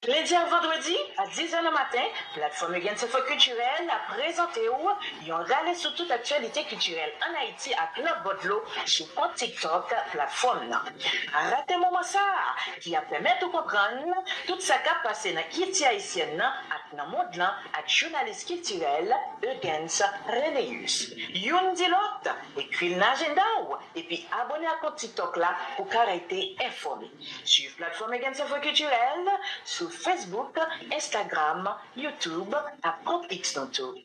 Chak lendi ak vandredi, a 10 zè nan maten, Platfòm Eugène Sentfò Kiltirèl ap prezante w yon rale sou tout aktyalite kiltirèl ann Ayiti ak lòtbò dlo sou kont TikTok platfòm nan. Pa rate moman sa a ki ap pèmèt ou konprann tout sa k ap pase nan kilti ayisyèn nan ak nan mond lan ak jounalis kiltirèl Eugens Renéus. Youn di lòt, ekri l nan ajenda w epi abone ak kont TikTok la pou w ka rete enfòme. Swiv Platfòm Egen Sofre Kiltirèl sou Facebook, Instagram, YouTube ak kont X nou tou.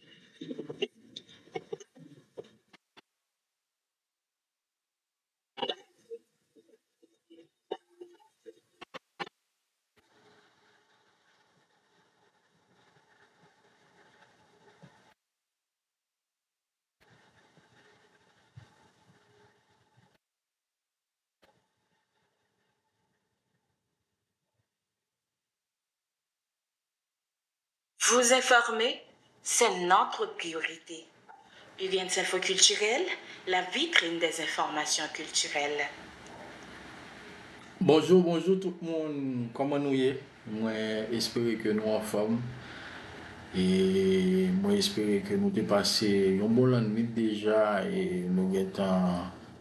Vous informer, c'est notre priorité. Union'sInfo Culturel, la vitrine des informations culturelles. Bonjour bonjour tout moun kòman nou ye mwen espere ke nou anfòm e mwen espere ke nou te pase yon bon lannwit deja e nou gentan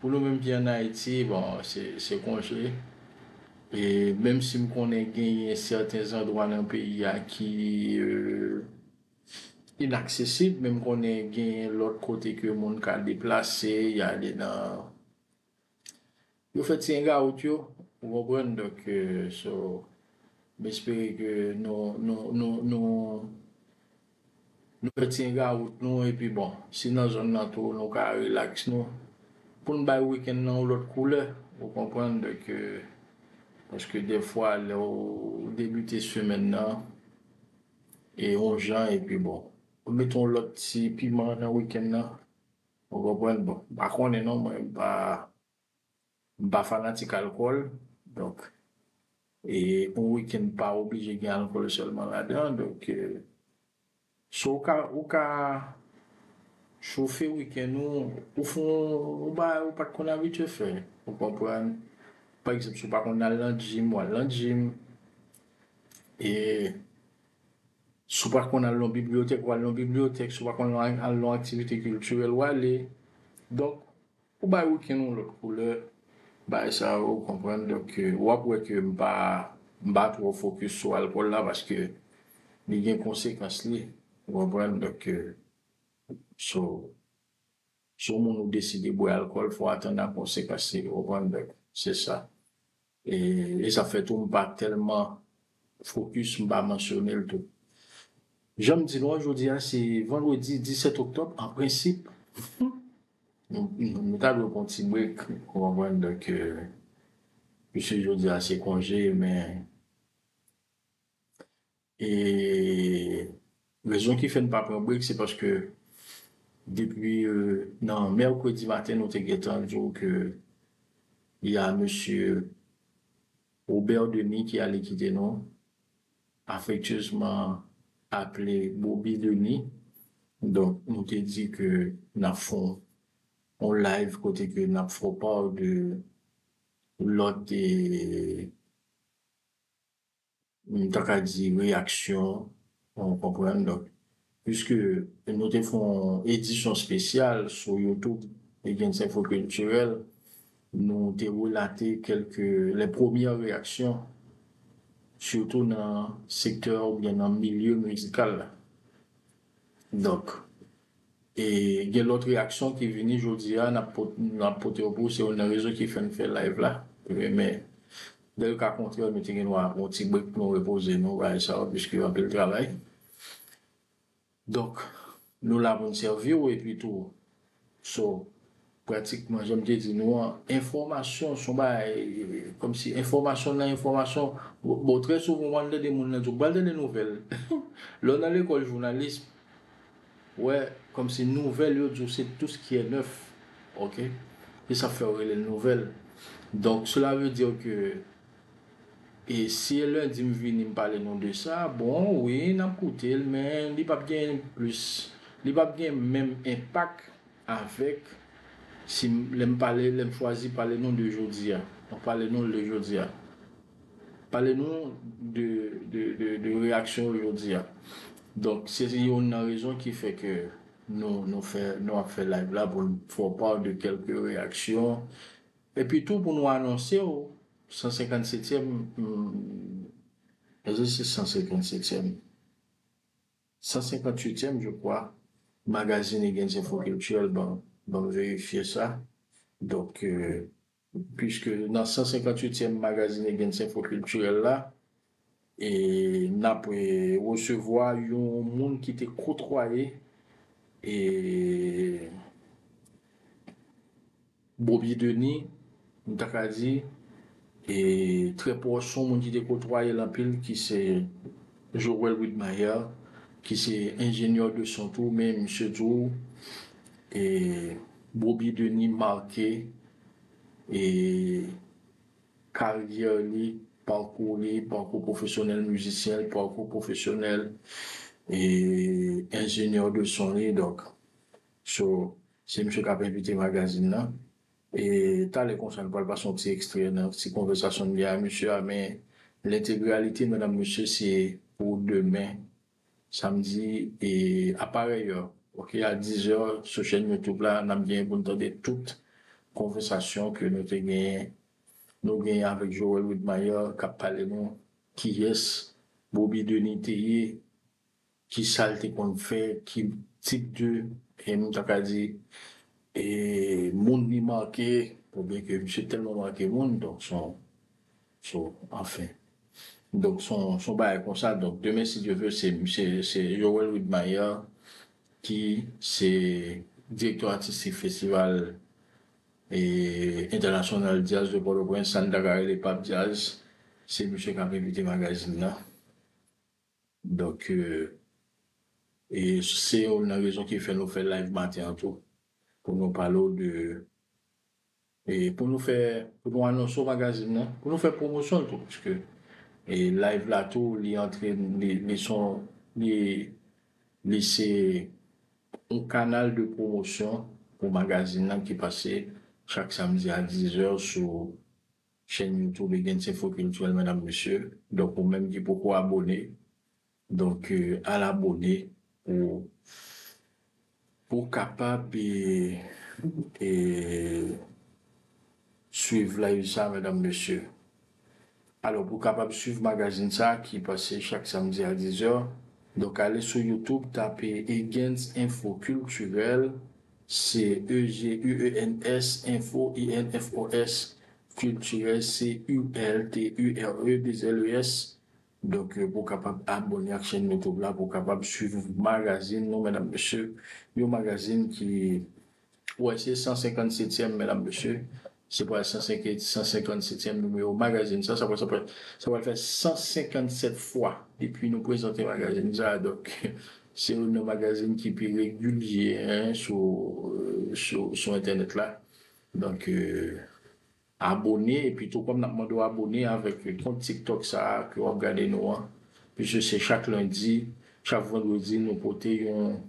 Pou nou menm ki an Ayiti, bon, se konje. E menm si m konnen genyen sèten zandwa nan peyi a ki inaksesib, men m konnen genyen lòt kote ke moun ka deplase, y ale nan. Yo fèt si 1 gaout yo ou konprann donk so m espere ke nou nou nou nou nou fèt si 1 gaout nou epi bon si nan zòn nan tou nou ka relax nou pou n bay weekend nan yon lòt koulè ou konprann donk paske dèfwa lè w debite semèn nan e yon jan epi bon ou met yon lòt ti piman nan weekend nan. Ou konprann bon m pa konnen non mwen m pa m pa fanatik alkòl donk e yon weekend pa oblije gen alkòl sèlman ladan donk so ou ka ou ka chofe weekend ou ou fè yon bagay ou pat konn abitye fè ou konprann pa egzanp si w pa konn al nan gym wal nan gym e. Si w pa konn al nan bibliyotèk, w al nan bibliyotèk. Si w pa konn al nan aktivite kiltirèl, w ale. Donk, ou bay wikenn yon lòt koulè, bagay sa yo, ou konprann. Donk, w ap wè ke m pa, m pa twò fokis sou alkòl la paske li gen konsekans li, ou konprann. Donk, si w, si w moun ou deside bwè alkòl, fò w atann a konsekans li, ou konprann. Donk, se sa. E sa fè tou m pa tèlman fokis m pa mansyone l tou. Jan m di nou an jodi a se vandredi 17 oktòb an prensip nou ta dwe pran yon ti brek ou konprann donk pise jodi a se konje men E rezon ki fè n pa pran brek se paske depi nan mèkredi maten nou te gentan di w ke y a mesye Robert Denis ki ale kite nou, afektyezman aple Bobi Denis. Donk nou te di ke n ap fè yon live kote ke n ap fè w part de lòt. Nou ta ka di reyaksyon an ou konprann donk piske nou te fè yon edisyon spesyal sou youtube Legends Info Culturel nou te relate kelke les premières réactions sitou nan sektè oubyen nan milye mizikal la donk E gen lòt reyaksyon ki vini jodi a nap pote yo pou ou se youn nan rezon ki fèm fè live la men lèl ka kontrè nou te gen dwa yon ti break pou nou repoze nou bagay sa yo puiske anpil travay donk nou la poun sèviw epi tou so Pratikman jan m te di nou an, enfòmasyon son bagay kòmsi enfòmasyon nan enfòmasyon, bon trè souvan w'ann tande moun nan di w pral tande nouvèl, lè w nan lekòl jounalism ou wè kòmsi nouvèl yo di w se tout ce qui est neuf ok, se sa fè yo rele l nouvèl donk cela veut dire que e si e lundi m vini m pale nou de sa bon wi n'ap koute l men li p'ap gen plis li p'ap gen menm enpak Avèk, si m, lè m pale, lè m chwazi pale nou de jodi a, mwen pale nou l de jodi a. Pale nou de, de, de, de reyaksyon yo jodi a. Donk, se yonn nan rezon ki fè ke nou, nou fè, nou ap fè live la pou n fè w part de kèlke reyaksyon. Epi tou pou nou anonse w 157 èm, èske se 157 èm? 158 èm je kwa magazin e gen zenfo kiltirèl ban banm verifye sa donk piske nan 158 èm magazin e gen zenfo kiltirèl la e nap resevwa yon moun ki te kotwaye e. Bobby Denis, m ta ka di, e trè pwòch yon moun ki te kotwaye l anpil ki se Joel Widmayer ki se enjenyè de son tou men misye tou e Bobby Denis make e karyè li, pakou li, pakou pwofesyonèl mizisyen l, pakou pwofesyonèl e enjenyè de son li donk. So se misye kap envite magazin nan e talè konsa nou pral pase yon ti ekstrè nan ti konvèsasyon m gen a misye a men lentegralite medam mesye se pou demen samdi e a parèy è ok a dizè sou chèn youtube la nap genyen pou n tande tout konvèsasyon ke nou te genyen nou genyen avèk Joel Widmayr kap pale nou kiyès Boby Denis te ye. Ki sa l te konn fè? Ki tip de, m ta ka di, moun li make? Pou byen ke misye tèlman make moun, donk s on, s on, anfen. Donk s on, s on bagay konsa. Donk demen si Dye ve, se misye, se Joel Widmaier ki se direktè atistik festival entènasyonal djaz de Pòtoprens, sa n ta ka rele Pap Djaz. Se misye k ap envite magazin nan. Donk e se yonn nan rezon ki fè nou fè live maten an tou pou nou pale w de e pou nou fè pou nou anonse w magazin nan pou nou fè pwomosyon l tou paske e live la tou li antre li son li li se yon kanal de pwomosyon pou magazin nan ki pase chak samdi a 10 zè sou Chèn youtube gen ti fo kiltirèl medam mesye donk ou menm ki poko abone donk al abone pou ou kapab swiv live sa medam mesye alò pou kapab swiv magazin sa ki pase chak samdi a 10 è donk ale sou youtube tape Egen's info culturel Se EGUENS, info, infos, culturel, CULTURE2LES. Donk pou w kapab abone ak chèn YouTube la, pou w kapab swiv magazin nou medam mesye. Yon magazin ki wè se 157 tièm medam mesye. Se pral 157 èm nimewo magazin sa, sa pral fè 157 fwa depi nou prezante magazin sa a, donk se youn nan magazin ki pi regilye sou entènèt la. Donk abone epi tou kòm n ap mande w abone avèk kont tiktok sa a ke w ap gade nou an, piske se chak lendi, chak vandredi nou pote yon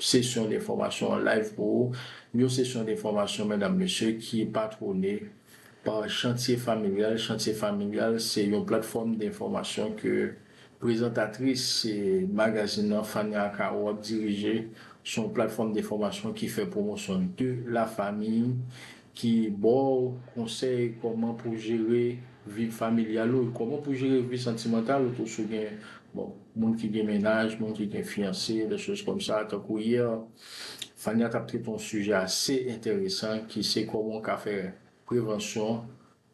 Sesyon de fòmasyon an live pou ou, yon sesyon de fòmasyon medam mesye ki patwone pa Chantye Familyal, Chantye Familyal se yon platfòm de enfòmasyon ke prezantatris magazin nan Fania Akao ap dirije, son platfòm de fòmasyon ki fè pwomosyon de la famiy Ki baw konsèy kòman pou jere vi familyal ou, kòman pou jere vi santimantal ou tou si w gen bon moun ki gen mennaj, moun ki gen fiyanse des choses comme ça tankou hier Fania tap trete yon sijè ase enteresan ki se kòman w ka fè prevansyon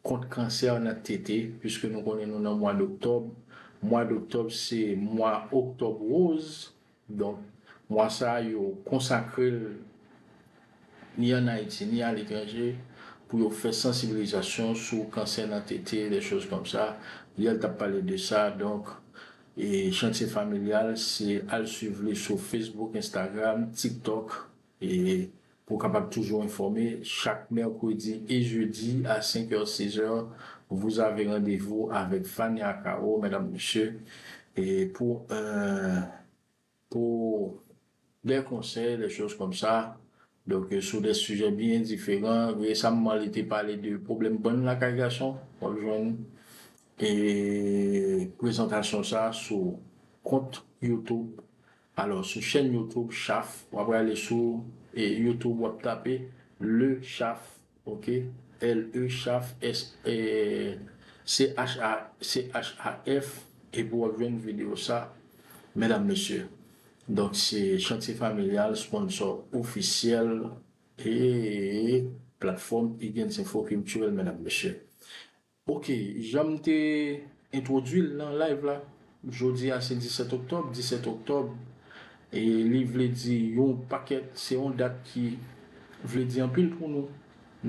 kont kansè nan tete puiske nou konnen nou nan mwa d'octobre mwa d'octobre se mwa octobre rose Donk, mwa sa a yo konsakre l ni ann Ayiti ni aletranje pou yo fè sansibilizasyon sou kansè nan tete, dè choz kòm sa. Yè l t ap pale de sa. Donk, Chantye Familyal se al swiv li sou Facebook, Instagram, TikTok. E pou w kapab toujou enfòme, chak mèkredi e jedi a 5 heure 6 heure, vous avez rendez-vous avec Fania Caro, medam mesye, e pou pou des conseils, des choses comme ça, donk sou des sujets byen diferan, resamman li te pale de pwoblèm bann lakay gason, w ap jwenn e prezantasyon sa sou kont youtube. Alò sou chèn YouTube chaf w ap rale sou YouTube w ap tape le chaf ok L E chaf S C H A C H A F epi w ap jwenn video sa medam mesye donk se chantye familyal sponsò ofisyèl ee platfòm Iguens Info Culturel medam mesye Ok janm te entwodwil nan live la jodia se 17 oktòb 17 oktòb e li vle di yon pakèt se yon dat ki vle di anpil pou nou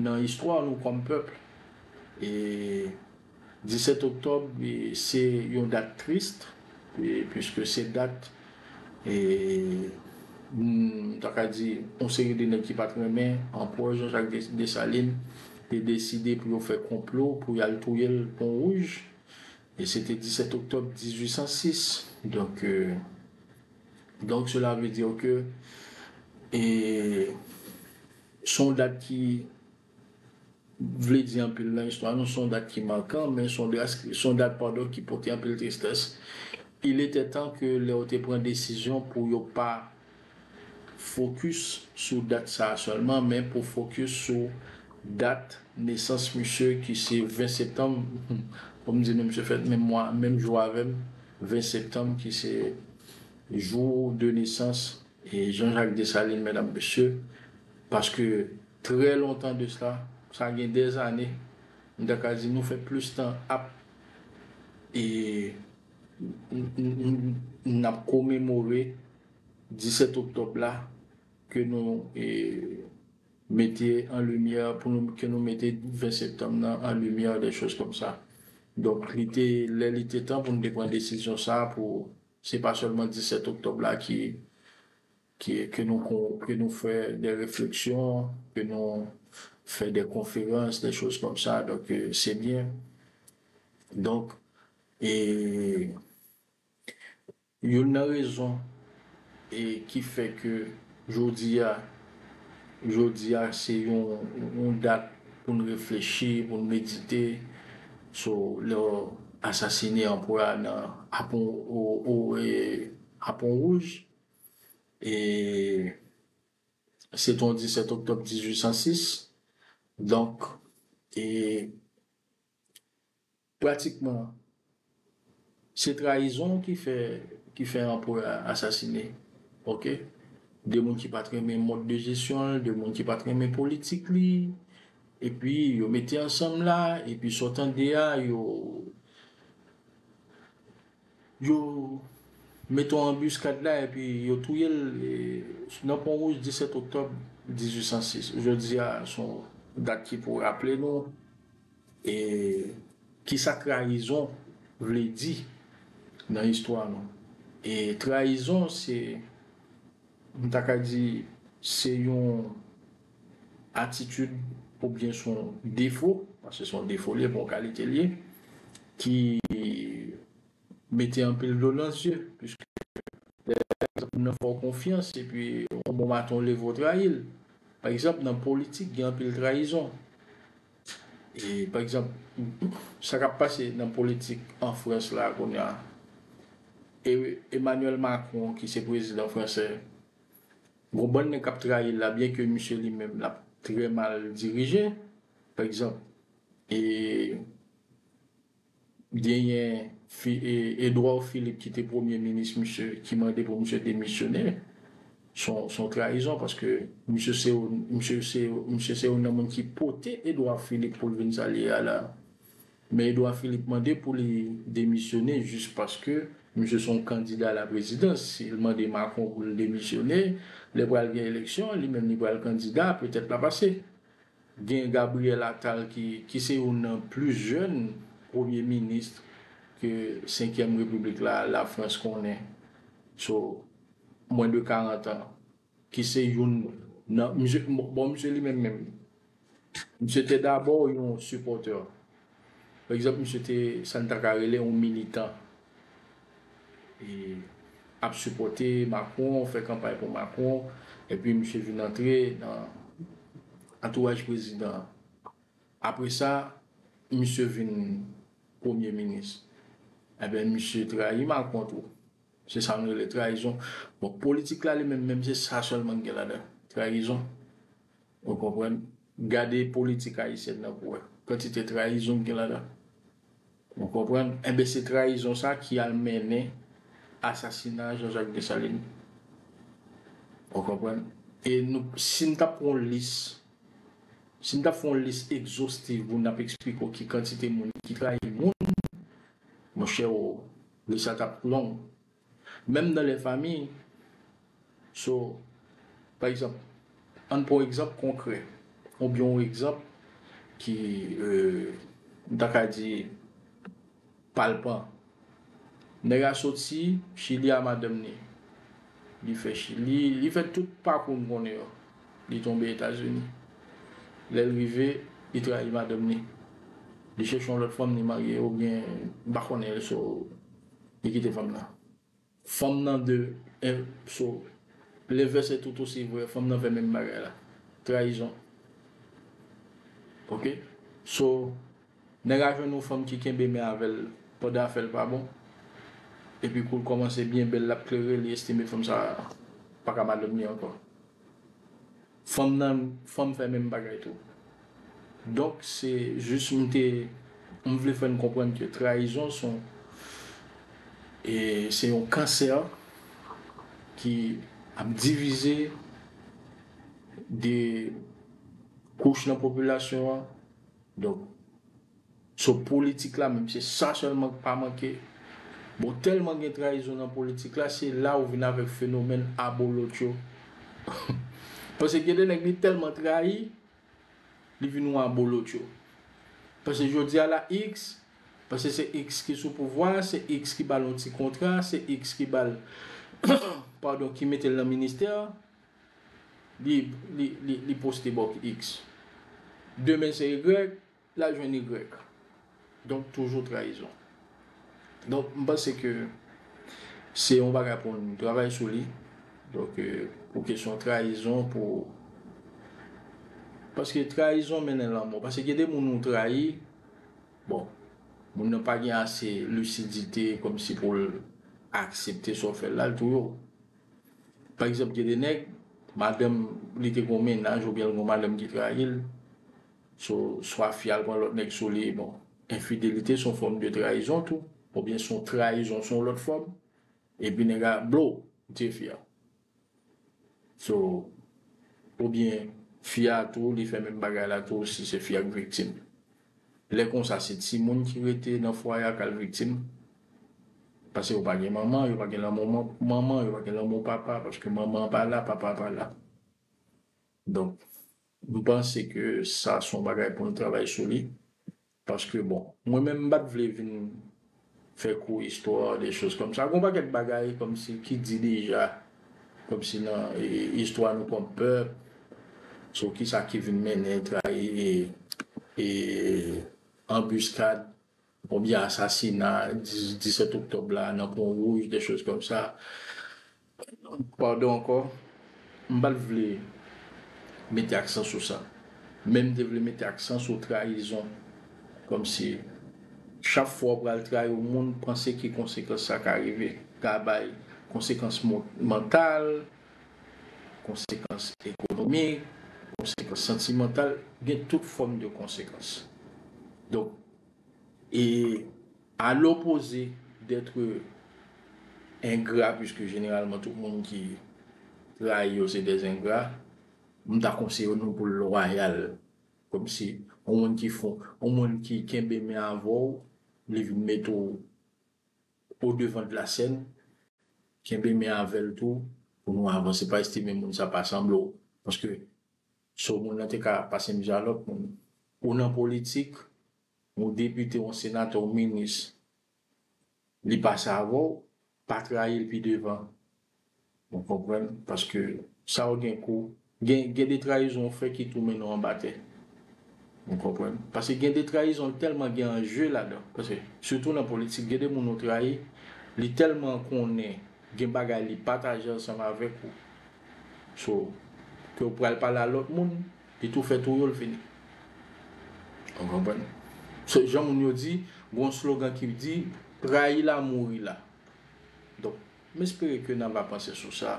nan istwa nou kòm pèp e 17 oktòb se yon dat trist piske se dat E m ta ka di yon seri de nèg ki pa t renmen Anpwè Jan Jak Desalin te deside pou yo fè konplo pou y al touye l Pon Wouj. E se te 17 oktòb 1806. Donk, donk sela ve di ke e s on dat ki. vle di anpil nan istwa nou, son dat ki mankan, men son dat, son dat padon ki pote anpil tristès. Il etait tan ke lè yo te pran desizyon pou yo pa fokis sou dat sa a sèlman, men pou fokis sou dat nesans misye ki se 20 septanm, fò m di nou misye fèt menm mwa, menm jou avè m, 20 septanm ki se jou de nesans E Jean Jacques Dessalines medam mesye paske trè lontan de sla sa gen dè zane m ta ka di nou fè plis tan ap e n ap komemore 17 oktòb la ke nou e mete an limyè pou nou ke nou mete 20 septanm nan an limyè dè choz kòm sa donk li te lè li te tan pou nou te pran desizyon sa pou Se pa sèlman 17 oktòb la ki ke nou kon ke nou fè dè refleksyon ke nou fè dè konferans dè choz kòm sa donk se byen donk e youn nan rezon e ki fè ke Jodi a, jodi a se yon dat pou n reflechi, pou n medite sou lè yo asasine anperè a nan Aponwouj. E se te yon 17 oktòb 1806. Donk e. Pratikman, se trayizon ki fè ki fè anperè a asasine. Ok. De moun ki pat renmen mòd de jesyon l, de moun ki pat renmen politik li, epi yo mete ansanm la, epi sa w tande a, yo yo mete yon anbiskad la epi yo touye l nan Pon Wouj 17 oktòb 1806. Jodi a, s on dat ki pou raple nou. E kisa trayizon vle di nan istwa nou? E trayizon se, m ta ka di, se yon atitid oubyen son defo, paske son defo li ye, pa yon kalite li ye, ki mete anpil dlo nan zye, piske lè moun nan fè w konfyans epi yon bon maten w leve w trayi l. Pa egzanp, nan politik gen anpil trayizon. Pa egzanp, sa k ap pase nan politik an Frans la kounye a, Emmanuel Macron ki se prezidan fransè, gon bann nèg k ap trayi l la byenke misye li menm l ap trè mal dirije. Pa egzanp, Genyen Edouard Philippe ki te premye minis misye ki mande pou misye demisyone. S on trayizon paske misye se yon misye se yon nan moun ki pote Edouard Philippe pou l vin sa l ye a la. Men Edouard Philippe mande pou li demisyone jis paske misye se yon kandida alaprezidans. Si l mande Macron pou l demisyone, lè pral gen eleksyon, li menm li pral kandida, petèt l a pase. Gen Gabriel Attal ki ki se youn nan plis jèn premye minis ke senkyèm repiblik la Lafrans konnen so mwen de 40 an ki se youn nan misye bon misye li menm menm misye te dabò yon sipòtè Pa egzanp misye te sa n ta ka rele yon militan e ap sipòte Macron, fè kanpay pou Macron epi misye vin antre nan antouraj prezidan an. Apre sa misye vin premye minis. Enben misye trayi Macron tou. Se sa nou rele trayizon. Bon politik la li menm menm se sa sèlman ki gen ladan l, trayizon. Ou konprann? Gade politik ayisyèn nan pou wè kantite trayizon ki gen ladan. Ou konprann? Enben se trayizon sa ki al mennen asasina Jean Jacques Dessalines. Ou konprann? E nou, si nou tap pran yon lis, si nou tap fè yon lis egzostiv pou nap eksplike w ki kantite moun ki trayi moun, monchè o, lis la tap long. Menm nan lè fami So pa egzanp Ann pran yon egzanp konkrè oubyen yon egzanp ki m ta ka di palpan Nèg a soti Chili a madanm ni Li fè Chili Li fè tout pakou n konnen yo Li tonbe Etazini Lè l rive Li trayi madanm ni Li chèche yon lòt fanm Li marye oubyen m pa konnen So Li kite fanm nan. Fanm nan de en so L'inverse est tout aussi vrai fanm nan fè menm bagay la. Trayizon. Ok so nèg la jwenn yon fanm ki kenbe men avèl pandan afèl pa bon epi koul kòmanse byen bèl lap klere li estime fanm sa paka madanm li ankò. Fanm nan fanm fè menm bagay tou. Donk se jis m te m vle fè n konprann ke trayizon son e se yon kansè ki ap divize de kouch nan popilasyon an donk. So politik la menm se sa sèlman k pa manke? Bon tèlman gen trayizon nan politik la se la ou vin avèk fenomèn abolotcho Pase gen de nèg li tèlman trayi li vin yon abolotcho Pase jodia la x pase se x ki sou pouvwa a se x ki bal yon ti kontra se x ki bal padon ki metel nan ministè li poste bòk x demen se y Lal jwenn Y. Donk toujou trayizon. Donk m panse ke se yon bagay pou nou travay sou li. Donk pou kesyon trayizon pou paske trayizon mennen lanmò. Paske gen de moun ou trayi bon moun nan pa gen ase lisidite kòm si pou l aksepte sa w fè l la l touye w. Pa egzanp gen de nèg madanm li te gen yon mennaj oubyen l gen yon madanm ki trayi l. So swa fi al pran lòt nèg sou li, bon enfidelite son fòm de trayizon tou, oubyen son trayizon son lòt fòm, epi nèg a blow ou tiye fi a. So oubyen fi a tou li fè menm bagay la tou si se fi a k viktim. Lè konsa se timoun ki rete nan fwaye a k al viktim, pase yo pa gen manman, yo pa gen lanmou manman, yo pa gen lanmou papa, paske manman an pa la, papa a pa la. Donk. M panse ke sa son bagay pou nou travay sou li paske bon mwen menm m pat vle vin fè kou istwa de choz kòm sa gon pakèt bagay kòm si ki di deja kòm si nan istwa nou kòm pèp sou kisa ki vin mennen trayi e anbiskad. Konbyen asasina 17 oktòb la nan pon wouj des choses comme ça pardon ankò m pat vle mete aksan sou sa men m te vle mete aksan sou trayizon kòmsi chak fwa ou pral trayi yon moun panse ki konsekans sa ka rive ka bay konsekans mantal konsekans ekonomik konsekans santimantal gen tout fòm de konsekans donk E a lopoze detre engra piske jeneralman tout moun ki trayi yo se dè engra, m ta konseye nou pou lwayal. Komsi yon moun ki fon, yon moun ki kenbe men avè w, li vin mete w o devan de la sèn, kenbe men avè l tou pou nou avanse. Pa estime moun sa pa sanble w paske. So moun nan te ka pasem di a lot moun. Ou nan politik, yon depite, yon senatè, yon minis li pase avèw, pa trayil pi devan. Ou konprann? Paske sa ou gen kou gen gen de trayizon ou fè ki tou mennen w anba tè. Ou konprann? Paske gen de trayizon li tèlman gen anje ladan. Paske sitou nan politik gen de moun ou trayi, li tèlman konnen gen bagay li pataje ansanm avèk ou, So kew pral pale a lot moun li tou fè tou yo l fini ou konprann so jan moun yo di gen yon slogan ki di rayi la mouri la donk m espere ke nan va panse sou sa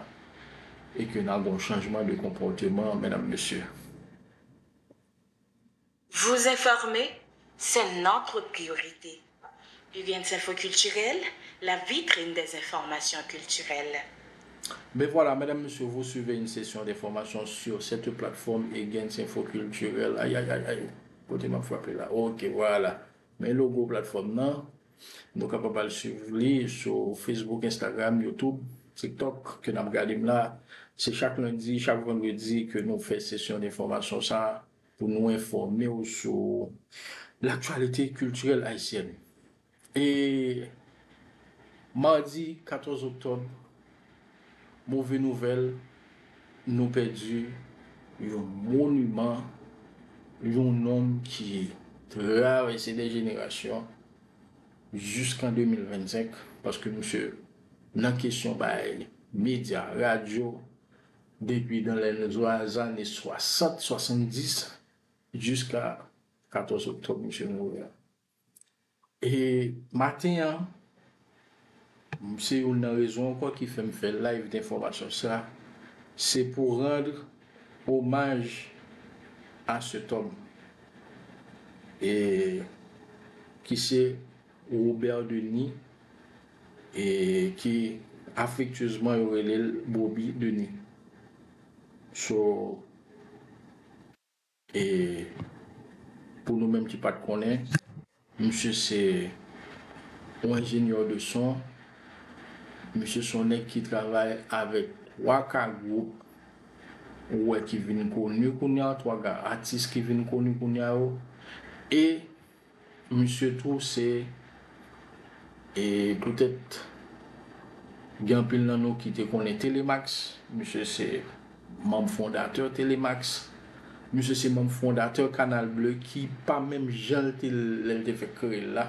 e ke nan gon chanjman de konpòteman medam mesye. Vous informer, c'est notre priorité. Vivienne's Infos Culturelles, la vitrine des informations culturelles. Ben voilà, mesdames, messieurs, vous suivez une session d'information sur cette plateforme Egen's Infos Culturelles. Ay, ay, ay, ay, kote map frape la? Ok, voilà. Men logo platfòm nan. Nou kapab al suiv li sou Facebook, Instagram, YouTube, TikTok ke nap gade m la. Se chak lendi, chak vandredi ke nou fè sesyon d'information sa a. Pou nou enfòme w sou laktyalite kiltirèl ayisyèn e madi 14 oktòb, move nouvèl, nou pèdi yon moniman, yon nonm ki travèse de jenerasyon jiskan 2025 paske misye nan kesyon bay medya, radyo, Depi dan lè n zwa zane 60, 70 jiska 14 oktòb misye mouri a. E maten an, se youn nan rezon ankò ki fè m fè live denfòmasyon sa, se pou randr omaj a cet homme e ki se Robert Denis e ke afektyezman yo rele l Bobi Denis. So e pou nou menm ki pa t konnen, misye se yon enjenyè de son, misye se yon nèg ki travay avèk Waka Group ou wè ki vin koni kounya, 3 gran atis ki vin koni kounya yo e Misye tou se e poutèt gen anpil nan nou ki te konnen Telemax, misye se manm fondatè Telemax, misye se manm fondatè Canal Bleu ki pa menm jan l te lè l te fèk kreye l la,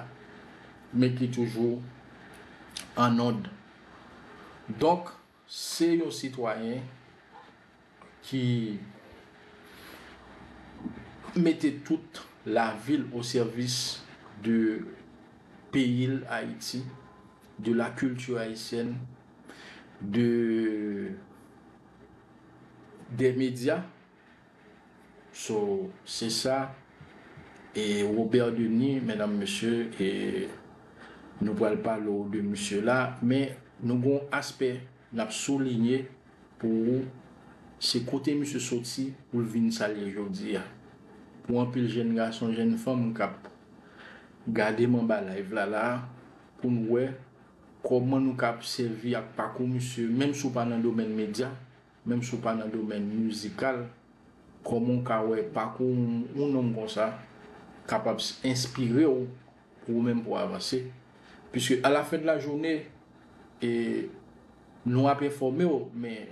men ki toujou an nòd. Donk. Se yon sitwayen ki mete tout lavi l o sèvis de peyi l Ayiti, de la culture haïtienne, de des médias So se sa e Robert Denis medam mesye e nou pral pale w de misye la men nou gon aspè nap soulinye pou ou se kote misye soti pou l vin sa l ye jodi a pou anpil jèn gason jèn fanm kap gade m anba live la la pou n wè kòman nou kap sèvi ak pakou misye menm si w pa nan domèn medya Menm si w pa nan domèn mizikal, kòman w ka wè pakou yon nonm konsa kapab enspire w pou ou menm pou w avanse? Piske alafendlajounen, nou ap enfòme w, men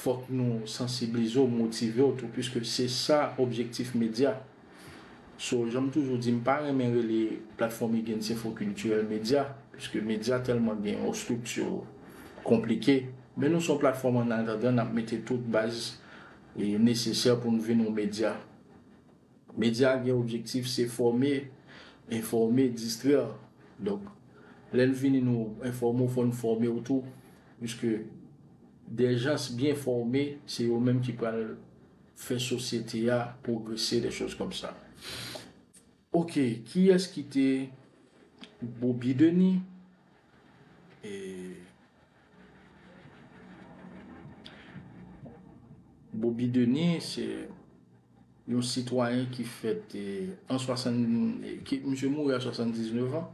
fòk nou sansiblize w, motive w tou, piske se sa objektif medya. So janm toujou di m pa renmen rele platfòm Again se fo kiltirèl medya piske medya tèlman gen yon estrikti konplike men nou son platfòm annatandan nap mete tout baz nesesè pou n vin yon medya. Medya gen objektif se fòme, enfòme, distrè donk lè n vini nou enfòme w fò n fòme w tou piske dè jans byen fòme se yo menm ki pral. fè sosyete a pwogrese de choz kòm sa ok kiyès ki te bobi deni ee bobi deni se yon sitwayen ki fèt an 60 misye mouri a 79 an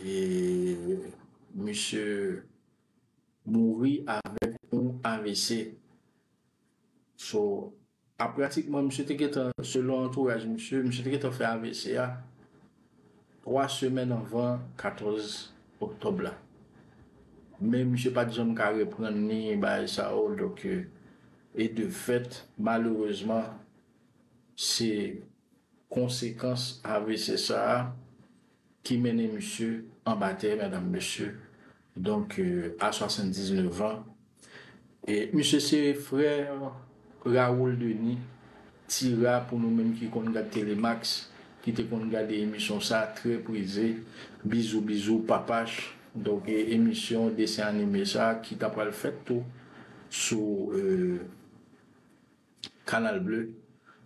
ee misye mouri avèk yon avc. So, a pratikman misye te gentan, selon antouraj misye, misye te gentan fè avc a 3 semèn anvan 14 oktòb la. Men misye pat janm ka reprann ni bagay sa yo, donk e de fèt malerezman se konsekans avc sa a ki mennen misye anba tè medam mesye donk a 79 an e misye se frè Raoul Denis ti ra pou nou menm ki konn gad telemax ki te konn gade emisyon sa trè prize bizou bizou papach donk emisyon desen anime sa ki ta pral fèt tou sou. Canal bleu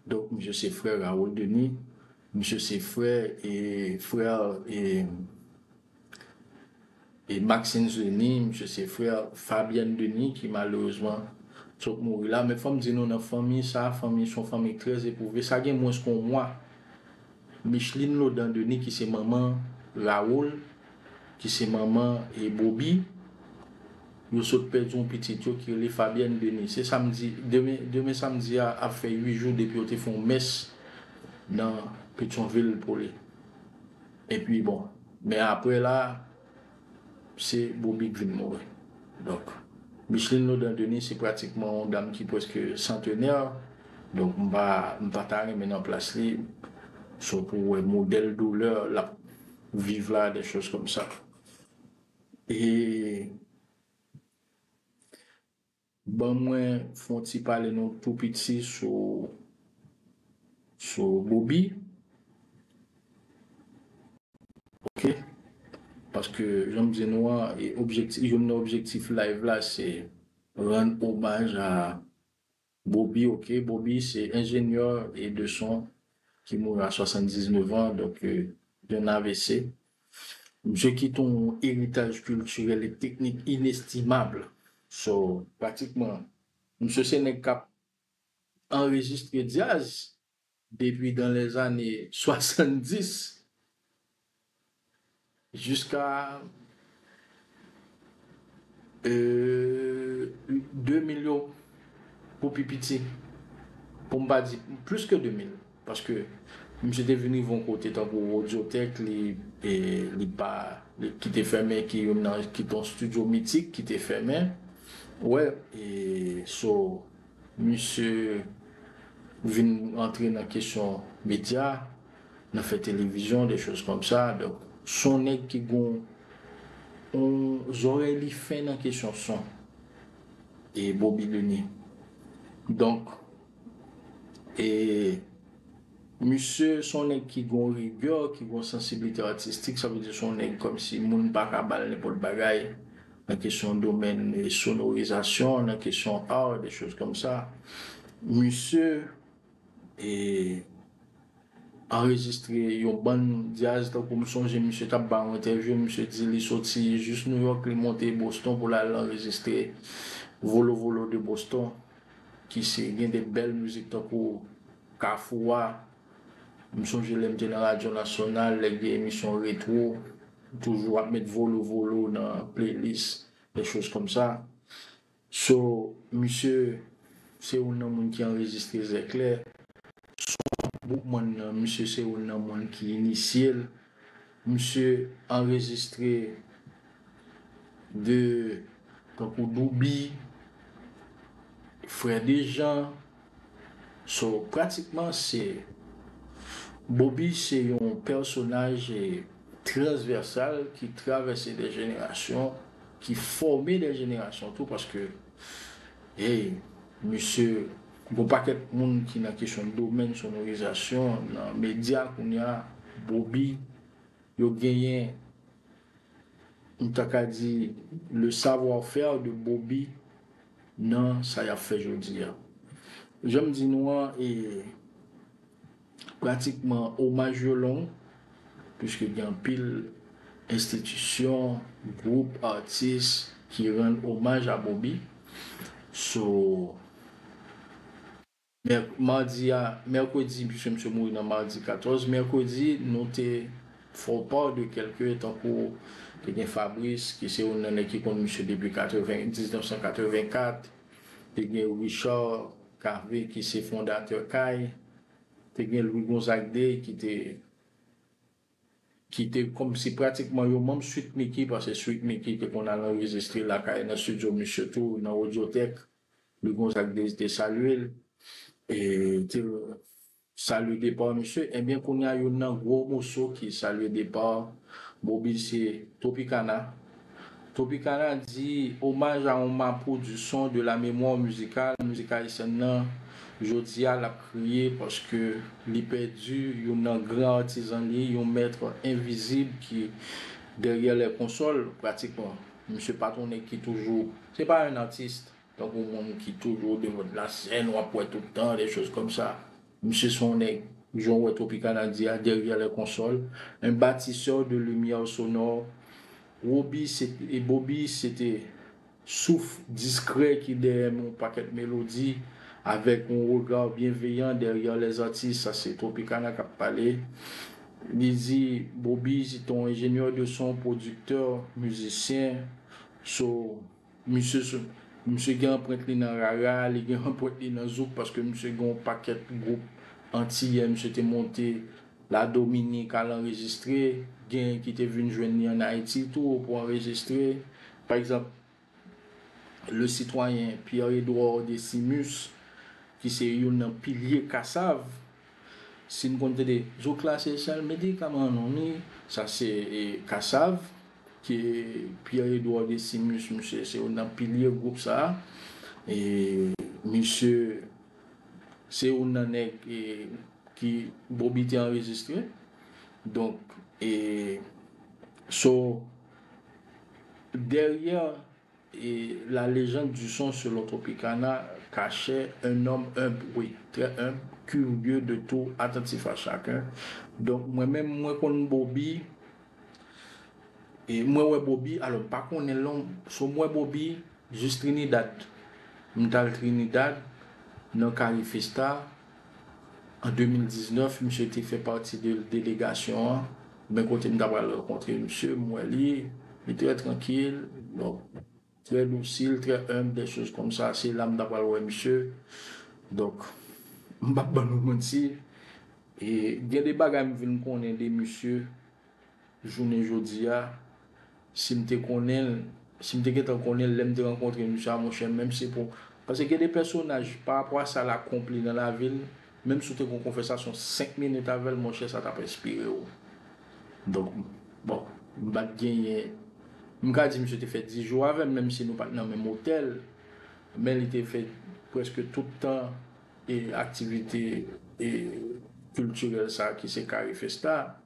donk misye se frè Raoul Denis misye se frè e frè e Maxence Denis misye se frè Fabienne Denis ki malerezman sot mouri la men fòm di nou nan fanmi sa fanmi son fanmi trè eprouve sa gen mwens ke yon mwa Micheline Laudan Denis ki se manman Raoul ki se manman Boby, yo sot pèdi yon pitit yo ki rele Fabienne Denis. Se samdi, demen samdi a ap fè 8 jou depi yo te fè yon mès nan Petyonvil pou li. Epi bon, men aprè la, se Boby k vin mouri. Donk, Micheline Laudant Denis se pratikman yon dam ki prèske santenè, donk m pa ta renmen nan plas li, se pou w wè modèl doulè l ap. viv la des choses comme ça e ban mwen fon ti pale nou tou piti sou sou Bobi ok paske jan m di nou an e objektif youn nan objektif live la se rann omaj a Boby ok Boby se enjenyè e de son ki mouri a 79 an donk yon avc. Misye kite yon eritaj kiltirèl e teknik inestimab. So pratikman misye se nèg kap anrejistre djazz Depi dan lè zane 70 jiska 2000 yo pou pi piti, pou m pa di plis ke 2000, paske misye te vin rive yon kote tankou Audiotech li pa ki te fèmen ki youn nan ki te yon studio mitik ki te fèmen wè e so Misye vin antre nan kesyon medya, nan fè televizyon, de choz kòm sa. Donk, s on nèg ki gon on zòrèy li fen nan kesyon son. E Bobi Leni. Donk, e misye s on nèg ki gon rigè, ki gon sansiblite atistik. Sa vle di s on nèg kòm si moun pa ka ba l nenpòt bagay. nan kesyon domèn sonorizasyon, nan kesyon art, des choses comme ça, misye anrejistre yon bann dyaz tankou m sonje misye t ap bay yon entèvyou misye di li soti jis Nouyòk li monte Boston pou l al anrejistre Volo Volo de Boston ki se gen de bèl mizik tankou Kafou a. M sonje lè m te nan radyo nasyonal, lè gen emisyon retwo, m toujou ap met Volo Volo nan playlist, des choses comme ça. So, misye se youn nan moun ki anrejistre Zèklè. Son Boukman nan, misye se youn nan moun ki inisye l. Misye anrejistre 2 tankou Douby, Frè Dejan, so pratikman se Bobi se yon pèsonaj transvèsal ki travèse de jenerasyon, ki fòme de jenerasyon tou paske hey misye Gon pakèt moun ki nan kesyon domèn sonorizasyon nan medya kounya Boby yo genyen m ta ka di le savoir faire de Boby nan sa yap fè jodi a. Janm di nou an e. Pratikman omaj yo long, puiske gen anpil enstitisyon, gwoup, atis ki rann omaj a Bobi. So, madi a, mèkredi, puiske misye mouri nan madi 14, mèkredi nou te fè w part de kèlke tankou te gen Fabrice ki se youn nan nèg ki konn misye depi 1984, Te gen Richard Cavé ki se fondatè kay, te gen Louis Gonzague Day ki te ki te kòm se pratikman yo manm Sweet Micky paske Sweet Micky te konn al anrejistre lakay nan studio misye tou nan Audiotech, Louis Gonzague Day te salye l e te Salut départ mesye ebyen kounya youn nan gwo moso ki salye départ Boby se Tropicana Tropicana di omaj a on mapou du son de la mémoire musicale mizik ayisyèn nan jodia lap kriye paske li pèdi youn nan gran artisan li yon maître invisible ki derrière les consoles pratiquement misye pa ton nèg ki toujou se pa un artiste. Yon gwo moun ki toujou o devant de la scène wap wè tout tan des choses comme ça. Misye se yon nèg jan w wè Tropicana di a derrière les consoles un batisseur de lumière sonore Roby se te Boby se te souf discret ki dèyè yon pakèt melodi avèk yon regard bienveillant derrière les artistes sa se Tropicana kap pale li di Boby se te yon ingénieur de son producteur musicien so Misye sou. Misye gen anprent li nan rara, li gen anprent li nan zouk paske misye gen yon pakèt gwoup antiyè misye te monte Ladominik al anrejistre, gen ki te vin jwenn li an Ayiti tou pou anrejistre. Pa egzanp, le sitwayen Pierre Edouard Decimus ki se youn nan pilye Kassav, si n konn tande, Zouk la se sèl medikaman nou, ni sa se Kassav. Ke Pierre Edouard Decimus misye se yon nan pilye gwoup sa a e misye se yon nan nèg ki Bobi te anrejistre donk e so dèryè E la légende du son selon Tropicana kachè un homme humble, oui, très humble, curieux de tout, attentif à chacun. Donk mwen menm mwen konn Bobi, e mwen wè Bobi, alò m pa konnen l non, so m wè Bobi jis Trinidad. M t al Trinidad nan Carifesta. An 2019, misye te fè pati de delegasyon an, men kote m ta pral rankontre misye, m wè li, li trè trankil, donk, trè dosil, trè enb, dè choz kòm sa, se la m ta pral wè misye. Donk, m p ap ban nou manti, gen de bagay m vin konnen de misye Jounen jodi a, si m te konnen l, si m te gentan konnen l lè m te rankontre misye a, monchè, menm si pou. Pase gen de pèsonaj, parapò a sa l akonpli nan lavi l, menm si w te gen yon konvèsasyon 5 minit avè l, monchè, sa t ap enspire w. Donk, bon, m pa t genyen. M ka di misye te fè 10 jou avè m, menm si nou pa t nan menm otèl, men li te fè prèske tout tan e aktivite e kiltirèl sa a ki se Carifesta.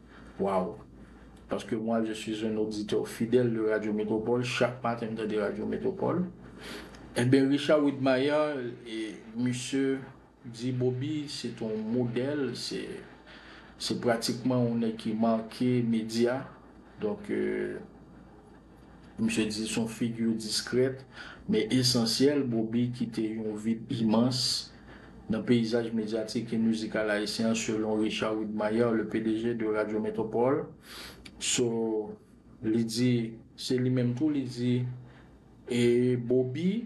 Waw! Paske mwa je suis un auditeur fidèle de radio metropole chak maten m tande radio metropole enben Richard Widmaier misye di Bobi se t on modèl se se pratikman on nèg ki marke medya donk Misye di son figure discrète men esansyèl Bobi kite yon vid imans nan peyizaj medyatik e mizikal ayisyen an selon Richard Widmaier le pdg de Radio Métropole so li di se li menm tou li di e Bobi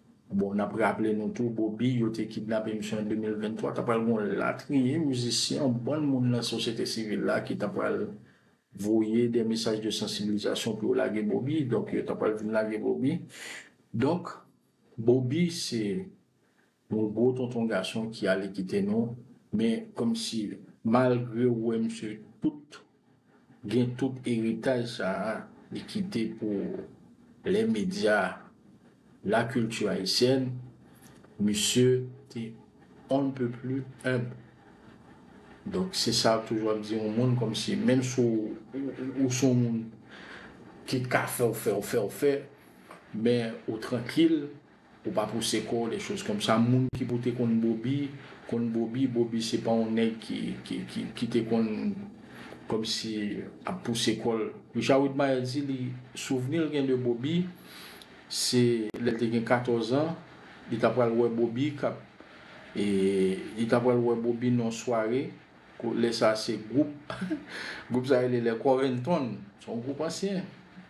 Bon nap raple nou tou Bobi yo te kidnape misye an 2023 ta pral gen yon latriye mizisyen yon bann moun nan sosyete sivil la ki ta pral voye de mesaj de sansibilizasyon pou yo lage Bobi donk yo ta pral vin lage Bobi donk Bobi se yon gwo tonton gason ki ale kite nou men kòmsi malgre ou wè misye tout gen tout eritaj sa a li kite pou lè medya la kilti ayisyèn, misye te on ne peut plus humble. Donk se sa toujou ap di on moun kòm si menm si ou son moun ki t ka fè w fè w fè w fè men ou trankil Ou pa pouse kòw des choses comme ça moun ki pou te konn boby konn boby boby se pa yon nèg ki te konn kòm si ap pouse kòl Richard Widmayhe di li souvni l gen de boby se lèl te gen 14 ans li ta pral wè boby kap li ta pral wè boby nan yon sware lè sa se gwoup gwoup sa rele les corentons son gwoup ansyen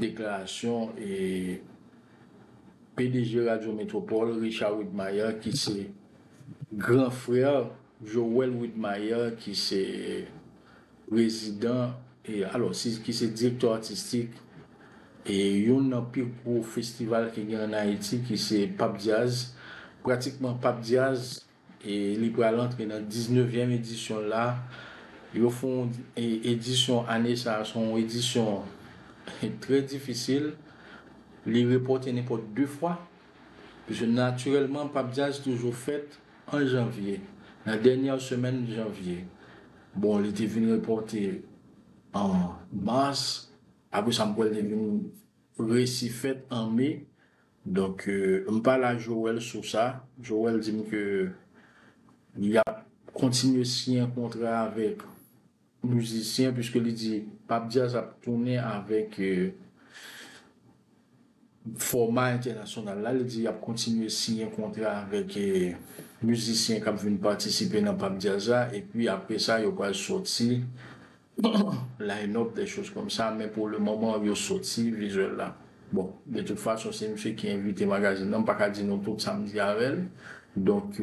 Deklarasyon pdg Radyo Metropole Richard Widmaier ki se gran frè Joel Widmaier ki se prezidan alo ki se direktè atistik youn nan pi gwo festival ki gen an Ayiti ki se Pap Dyaz. Pratikman Pap Dyaz E li pral antre nan 19 vyèm edisyon l la. Yo fè yon edisyon ane sa a, se yon edisyon trè difisil. Li repòte nenpòt 2 fwa. Piske natirèlman Pap Djaz toujou fèt an janvye, nan dènyè semèn janvye. Bon li te vin repòte an mas, apre sa m kwè l te vin resi fèt an me. Donk m pale a Joel sou sa, Joel di m ke li ap kontinye siyen kontra avèk mizisyen puiske li di Pape Diaz ap tounen avèk fòma entènasyonal la, li di y ap kontinye siyen kontra avèk mizisyen k ap vin patisipe nan Pape Diaz la epi apresa yo pral sòti line up des choses comme ça men pou le moment yo soti visuel la bon de toute façon se misye ki invite magazine nan m paka di nou tout sam di avèl donc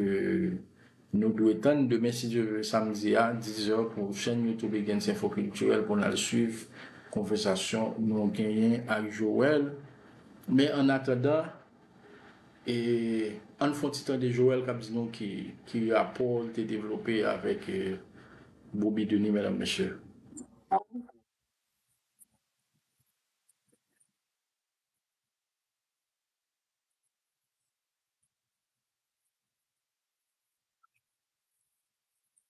nou dwe tann demen si Dieu veut samedi a 10 heures pou chaîne YouTube Egens Info Culturel pou nal swiv konvèsasyon nou genyen ak Joel men en attendant E ann fon ti tande Joel kap di nou ki rapò li te devlope avèk Boby Denis medam mesye.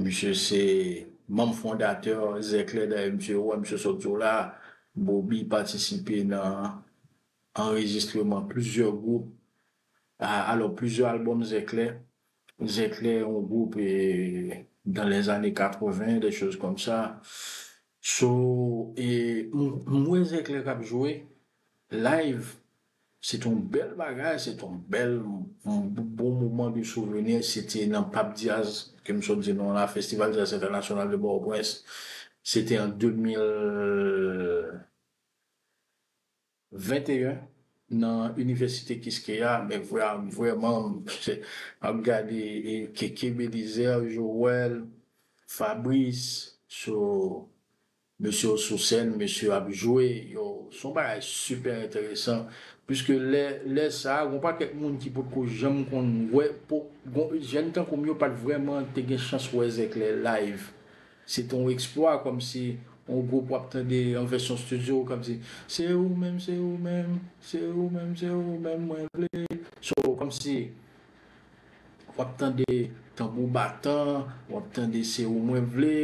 Misye se manm fondatè Zèklè dayè misye wè misye sot jou la Bobi patisipe nan anrejistreman plizyè gwoup alò plizyè albòm Zèklè Zèklè yon gwoup dan lè zane 80 dè choz kòm sa so m wè Zèklè kap jwe live Se te yon bèl bagay, se te yon bèl bon moman de souvenir, se te nan Pap Diaz ke m sot di non la, Festival Jazz Entènasyonal de Pòtoprens, se te an 2021 nan Inivèsite Kiskeya, men vrèman m ap gade Keke Belizaire, Joel, Fabrice, so. Mesye yo sou sèn, mesye yo ap jwe, yo, se yon bagay sipè enteresan, piske lè, lè sa a, gen yon pakèt moun ki potko janm konn wè, po, gon, jèn tankou m yo pa t vrèman te gen chans wè zèklè live. Se te yon eksplwa, kòmsi yon gwoup w ap tande yon vèsyon studio k ap di, Se ou menm, se ou menm, se ou menm, se ou menm mwen vle. So, kòmsi. Wap tande tanbou batan, wap tande se ou mwen vle,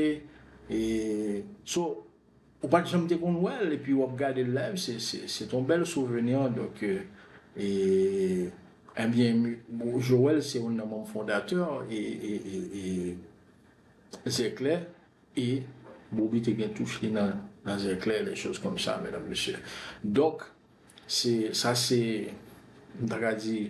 so ou pat janm te konn wèl epi wap gadel live se ton bèl souvenir donk ebyen Joel se youn nan manm fondatè zèklè e Bobi te gen touch li nan zèklè des choses comme ça mesdames messieurs donk Se sa se m ta ka di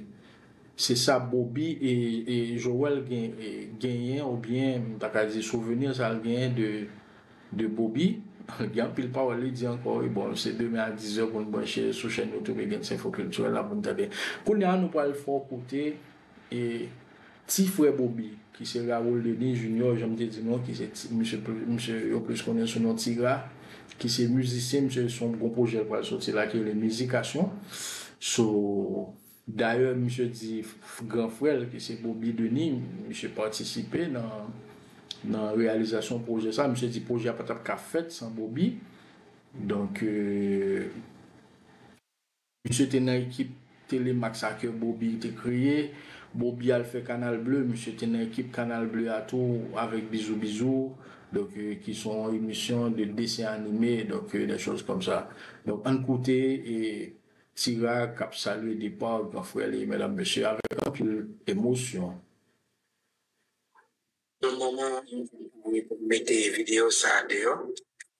se sa Bobi e Joel genyen ou byen m ta ka di souvenir sa l genyen de Bobi gen anpil pawòl li di ankò wi bon se demen a 10 è pou n branche sou chèn youtube Gensenfo Kiltirèl la pou n tande. Kounya nou pral fè w koute E ti frè Bobi, ki se Raoul Denis Junior, jan m te di nou, ki se ti, misye pli, misye yo plis konnen sou non Ti Ra, ki se mizisyen, misye se yon gwo pwojè l pral soti la ki rele Mizikasyon. So, dayè misye di gran frè l ki se Bobi Denis, misye patisipe nan nan reyalizasyon pwojè sa, misye di pwojè a pa t ap ka fèt san Bobi. Donk. Misye te nan ekip Telemax a ke Bobi te kreye. Bobi al fè Canal Bleu, misye te nan ekip Canal Bleu a tou avèk Bizou Bizou, donk ki se yon emisyon de desen anime, donk des choses comme ça. Donk ann koute Tira k ap salye depa gran frè li medam mesye avèk anpil emosyon. Nan moman an, mwen te mete videyo sa a deyò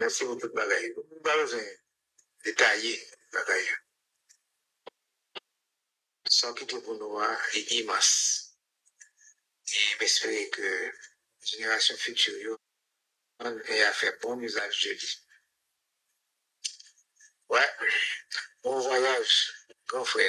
Mèsi pou tout bagay yo. Ou pa bezwen detaye bagay yo. Sa w kite pou nou an li imans. E m espere ke jenerasyon fiti yo aprann e a fè bon izaj de li. Wè! Bon vwayaj gran frè!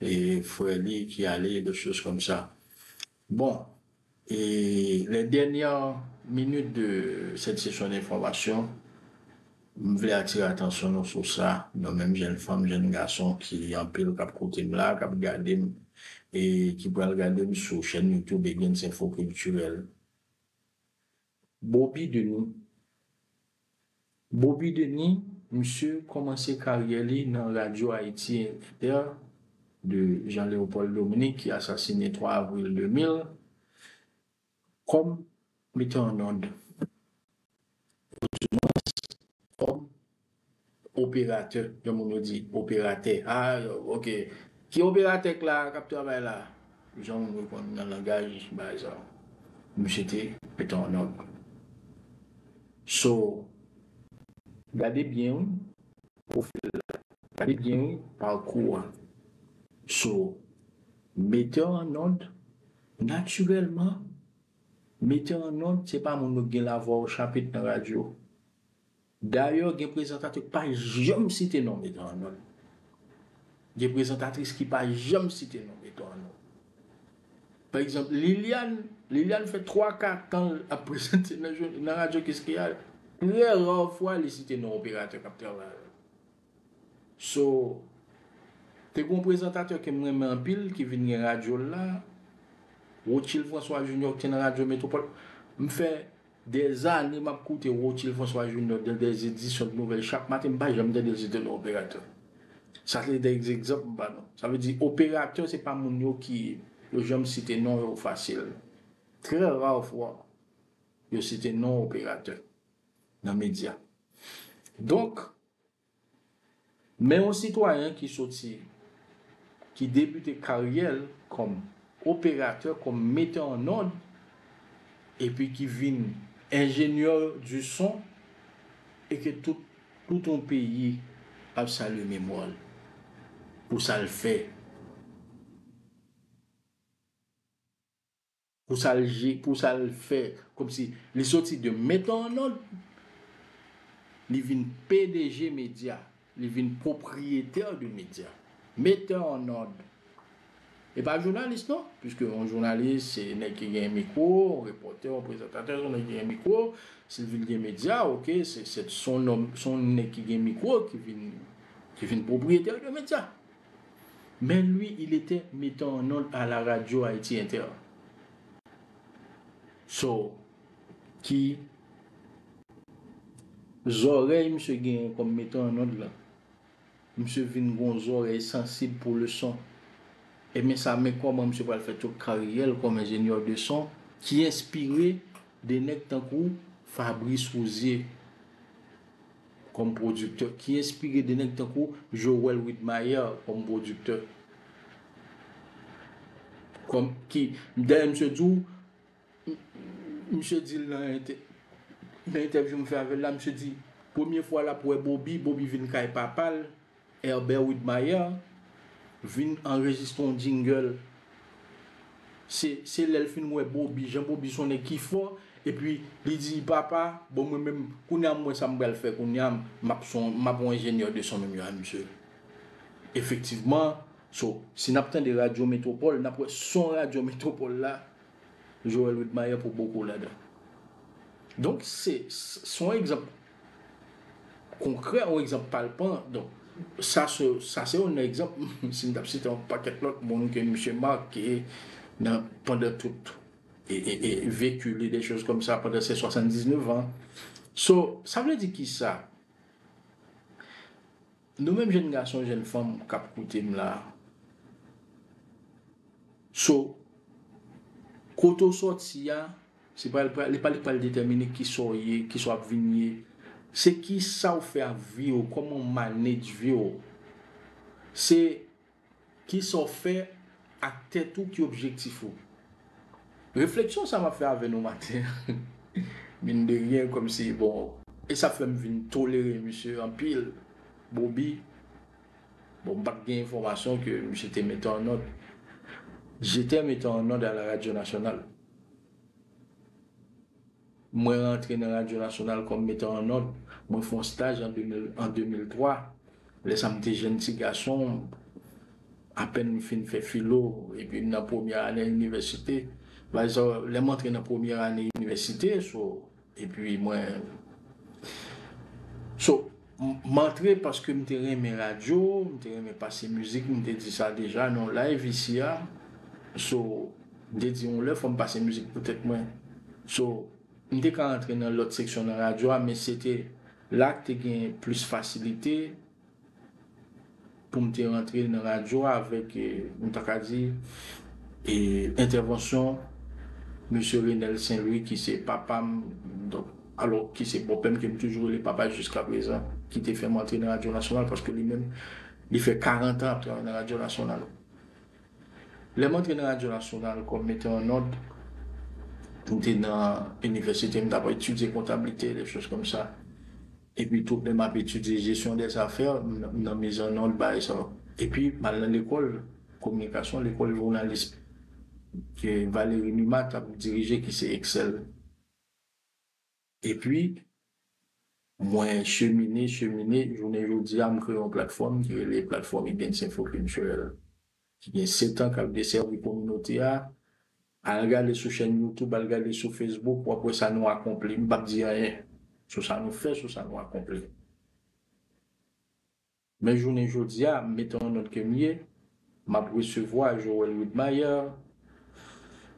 e frè li ki ale e dot choz kòm sa bon e lè dènyè minit de sèt sesyon denfòmasyon m vle atire atansyon nou sou sa nou menm jèn fanm jèn gason ki anpil kap koute m la kap gade m e ki pral gade m sou chèn youtube Egnsenfo kiltirèl Boby Denis Boby Denis misye kòmanse karyè li nan Radyo Ayiti Inter de Jean Léopold Dominique ki asasine 3 avril 2000 kòm metè an nòd. Odimans kòm Operatè, gen moun yo di operatè, aa ok, ki operatè k la a k ap travay la a? Jan moun yo konn nan langaj bagay sa yo. Misye te pete yon nòg. So, gade byen wi pwofil la, gade byen wi pakou a. So, metè an nòd, natirèlman, metè an nòd se pa moun yo k gen lavwa w chapit nan radyo. Dayè gen prezantatè k pa janm site non Beton an non. Gen prezantatris ki pa janm site non Beton an non. Pa egzanp Liliane, Liliane fè 3 ka tan l ap prezante nan radyo Kiskeya, trè ra fwa li site non operatè k ap travay avè l. So Te gon prezantatè kem renmen anpil ki vin gen radyo l la Rotchild François Junior ki te nan radyo Metropole m fè dè zane map koute Rotchild François Junior dan dè edisyon de nouvèl chak maten m pa janm tande l se te nan operatè sa se dè egzanp m ba nou sa vle di operatè se pa moun yo ki yo janm site non yo fasil trè ra fwa yo site non operatè nan medya donk. Men yon sitwayen ki soti ki debite karyè l kòm operatè, kòm metè an nòd epi ki vin enjenyè di son e ke tout tout yon peyi ap salye memwa l pou sa l fè. Pou sa l je, pou sa l fè kòmsi li soti de Mettons en Ordre, li vin pdg medya, li vin propriétaire de medya. Mettons en Ordre. E pa jounalis non, puiske yon jounalis se nèg ki gen mikwo, yon repòtè, yon prezantatè se yon nèg ki gen mikwo, si l vin gen medya, ok, se yon nèg ki gen mikwo ki vin propriétaire de medya. Mais lui il etait mettant en onde à la radio Haïti Inter so ki zòrèy misye genyen kòm mettant en onde lan misye vin gon zòrèy sansib pou le son ebyen sa men kòman misye pral fè tout karyèl kòm ingénieur de son ki enspire de nèg tankou Fabrice Rouzier. kòm pwodiktè ki enspire de nèg tankou Joel Widmaier kòm pwodiktè kòm ki dayè misye di w misye di l nan entèvyou m fè avè l la misye di premye fwa l ap wè Bobi Bobi vin kay papa l Herbert Widmaier vin anrejistre yon jingle se se lèl fin wè Bobi jan Bobi son nèg ki fò epi li di papa bon mwen menm kounya mwen sa m pral fè kounya map son map yon ingénieur de son menm jan a misye efektivman so si nap tande radyo metropole nap wè son radyo metropole la Joel Widmaier pou boko ladan donk se son egzanp konkrè yon egzanp palpan donk sa sa se yon egzanp si m t ap site yon pakèt lòt moun ke misye make nan pandan tout e veki li de choz kòm sa pandan se 79 an so sa vle di kisa Nou menm jèn gason jèn fanm kap koutem la so kote ou sòti a se pa li pa li k pral detèmine kisa ou ye kisa wap vin ye se kisa ou fè ak vi ou kòman ou manedj vi ou se Kisa w fè ak tèt ou ki objektif ou? Refleksyon sa map fè avè nou maten an mine de rien komsi bon e sa fèm vin tolere misye anpil Bobi bon m pat gen enfòmasyon ke misye te mete an nòd J'étais mete an nòd a la radio nationale. Mwen rantre nan Radyo Nasyonal kòm metè an nòt. Mwen fè yon staj an 2003. Lè sa m te jenn ti gason, apèn m fin fè filo epi m nan premyè ane inivèsite. Lè m antre nan premyè ane inivèsite, so, epi mwen. So, M antre paske m te renmen radyo, m te renmen pase mizik, m te di sa deja nan yon live isi a. So, m te di yon lè fò m pase mizik pou tèt mwen. So, m te ka antre nan lòt seksyon nan radyo a men se te la k te gen plis fasilite. pou m te rantre nan radyo a avèk, m ta ka di, entèvansyon Mesye Renel Sen Lwi ki se papa m, donk, alò ki se bòpè m ke m toujou rele papa jiskaprezan, ki te fè m antre nan radyo nasyonal paske li menm li fè karantan ap travay nan radyo nasyonal. Lè m antre nan radyo nasyonal kòm metè an nòt, m te nan inivèsite, m t ap etidye kontablite, dechòz kòm sa. Epi tou lè map etidye gestion des affaires m nan mizè non l bagay sa yo. Epi mal nan lekòl kominikasyon lekòl journalisme ke Valery Numa tap dirije ki se EXCEL. Epi mwen chemine chemine jounen jodi a m kreye yon platfòm ki rele platfòm Ibens Info Culturel ki gen 7 an kap desèvi kominote a Al gade sou chèn YouTube, al gade sou Facebook, wap wè sa nou akonpli. M pap di anyen sou sa nou fè, sou sa nou akonpli. Men jounen jodi a, m mete yon nòt ke m ye, m ap resevwa Joel Widmaier,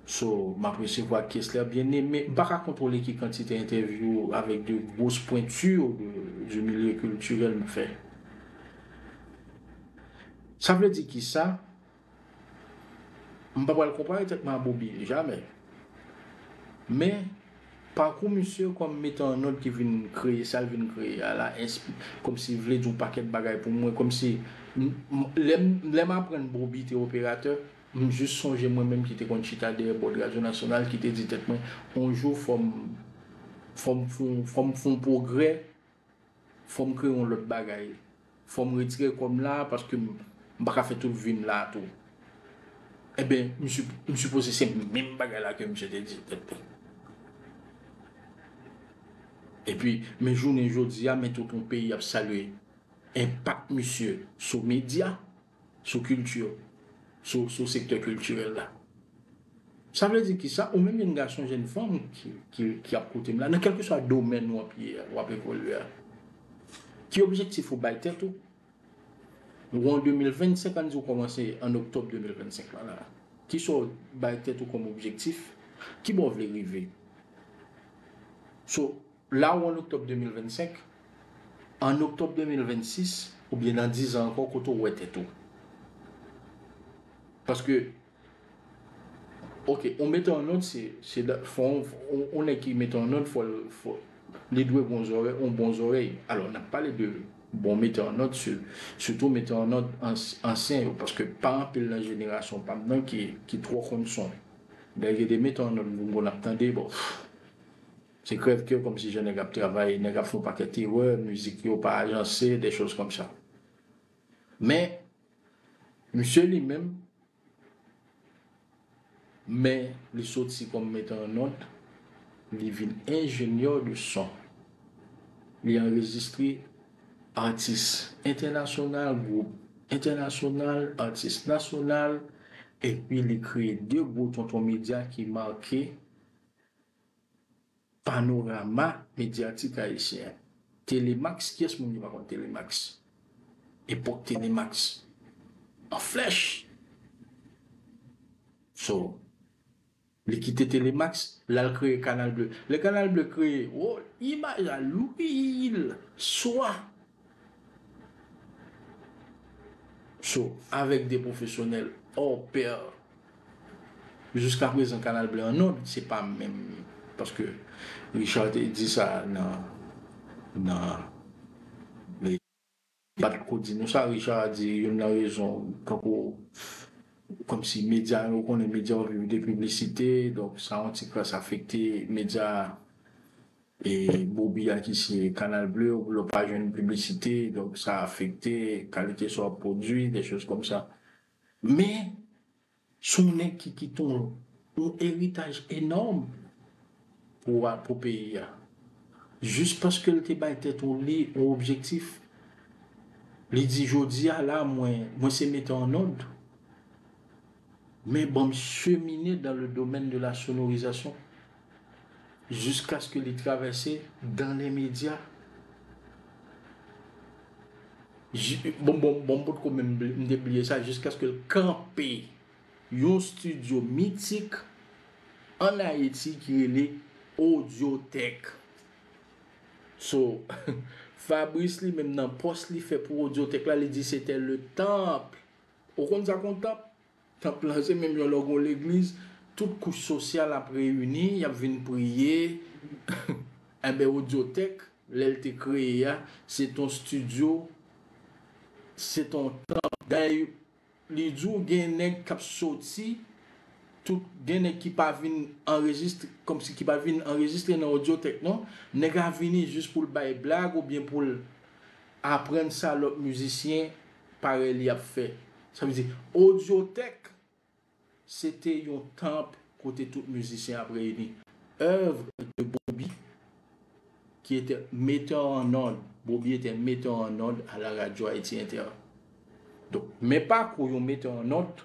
so, m ap resevwa Kesler Bien-Aimé. M pa ka kontwole ki kantite entèvyou avèk de grosses pointures de du milieu culturel m fè. Sa vle di kisa? M pa pral konpare tèt mwen a Bobi, jamè. Men, pakou misye kòm metan an òd ki vin kreye sa l vin kreye a la, enspire, kòmsi vle di yon pakèt bagay pou mwen, kòmsi, lè m aprann Bobi te operatè, m jis sonje mwen menm ki te konn chita dèyè bòd radyo nasyonal ki te di tèt mwen yon jou fò m fò m fon pwogrè Fòm kreye yon lòt bagay. Fòm retire kòm la paske m paka fè tout vim la tou. Enben m sipoze se menm bagay la ke misye te di tèt li. Epi men jounen jodi a men tout yon peyi ap salye enpak misye sou medya Sou kilti yo, sou sektè kiltirèl la. Sa vle di ki sa, ou menm jenn gason, jenn fanm ki ap koute m la, nan kèlkeswa domèn w ap ye a, w ap evolye a, ki objektif ou bay tèt ou? Nou an 2025, ann di ou kòmanse an oktòb 2025 lan la. Ki sa w bay tèt ou kòm objektif? Ki bò w vle rive? Sou La ou an oktòb 2025? An oktòb 2026 oubyen nan dizan ankò kote ou wè tèt ou? Paske ok ou mete yon nòt se se fò yon nèg ki mete yon nòt fòl fò li dwe gon zòrèy yon bon zòrèy alò nap pale de bon mete yon nòt se sitou mete yon nòt ansyen yo paske pa anpil nan jenerasyon pam nan ki ki twò konn son lè gen de mete yon nòt gon nap tande bon. Se krèv kè kòmsi jèn nèg ap travay, nèg ap fè yon pakèt erè, mizik yo pa ajanse, des choses comme ça. Men, misye li menm, men li soti kòm metteur en onde, li vin ingénieur de son. Li anrejistre atis entènasyonal, gwoup entènasyonal, atis nasyonal, epi li kreye 2 gwo tonton medya ki make. Panorama medyatik ayisyen. Telemax, kiyès moun ki pa konn telemax? Epòk telemax an flèch. So, li kite telemax, l al kreye kanal ble. Lè kanal ble kreye, wo, imaj la lou pil. Swa, So, avèk 2 pwofesyonèl hors pair, jiska prezan Kanal Blan an nòd, se pa menm, paske Richard te di sa nan, nan, li pa t ko di nou sa, Richard di youn nan rezon tankou, kòmsi medya yo, ou konnen medya yo viv de piblisite, donk sa yon ti kras afekte medya. E bobi a ki se canal bleu yo pou yo pa jwenn piblisite donk sa afekte kalite sa w ap pwodui des choses comme ça men se yon nèg ki kite yon eritaj enòm pou a pou peyi a jis paske l te bay tèt ou li yon objektif li di jodi a la mwen mwen se mete an òd men ban m chemine dans le domaine de la sonorisation. jiskaske li travèse dan lè medya jiskaske l kanpe yon stidyo mitik an Ayiti ki rele Audiotech. So, Fabrice li menm nan pòs li fè pou Audiotech la, li di se tè le temple. Ou konn sa kon temple? Tanp lan se menm jan lè w gen yon legliz, tout kouch sosyal ap reyini, y ap vin priye. Enben Odyotèk, lè l te kreye a, se te yon stidyo, se te yon tanp. Dayè li di w gen nèg k ap soti, tout, gen nèg ki pa vin anrejistre, kòmsi ki pa vin anrejistre nan Odyotèk non. Nèg la vini jis pou l bay blag oubyen pou l aprann sa lòt mizisyen Parèy li ap fè. Sa vle di, Audiotech se te yon tanp kote tout mizisyen ap reyini. Oeuvre de Bobi qui était metteur en onde, Bobi etè metè an ond a la radyo Ayiti Entè. Donk, men pakou yon metè an ond.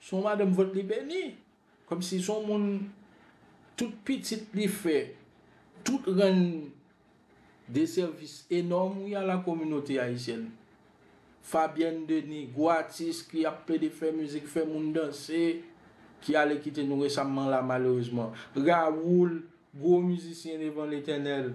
Son madanm vant li beni. Komsi son moun tout pitit li fè tout rann de sèvis enòm wi a la kominote ayisyèn. Fabyèn Deni gwo atis ki ap plede fè mizik fè moun danse ki ale kite nou resamman la malerezman. Rawoul gwo mizisyen devan letènèl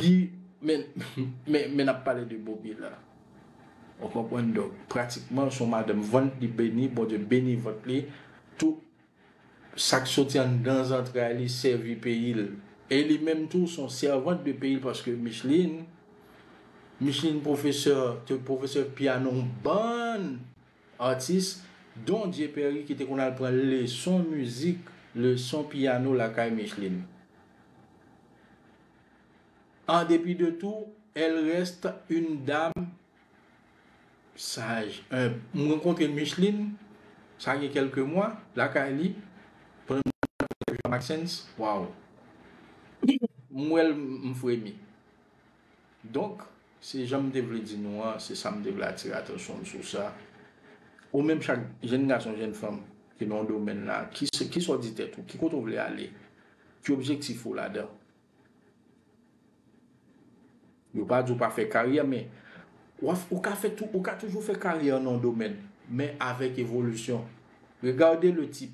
Li men men men nap pale de bobi la ou konprann donk pratikman son madanm vant li beni bondye beni vant li tou sak soti anndan zantray li sèvi peyil e li menm tou son sèvant de peyil paske micheline micheline professeur te professeur piano bann Atis Don Dieu Perry ki te konn al pran leson mizik, leson piyano lakay Micheline. En dépit de tout, elle reste une dame sage, humble. M rankontre Micheline, sa gen kèlke mwa, lakay li, pandan m t ap fè Jean Maxence, waw! M wè l m fremi. Donk, se jan m te vle di nou an, se sa m te vle atire atansyon m sou sa. Ou menm chak jenn gason, jenn fanm ki nan yon domèn la, ki sa w di tèt ou? Ki kote ou vle ale? Ki objektif ou ladan? Yo pa di w pa fè karyè men, ou ka fè tou, ou ka toujou fè karyè nan yon domèn men avèk evolisyon. Regarde le type.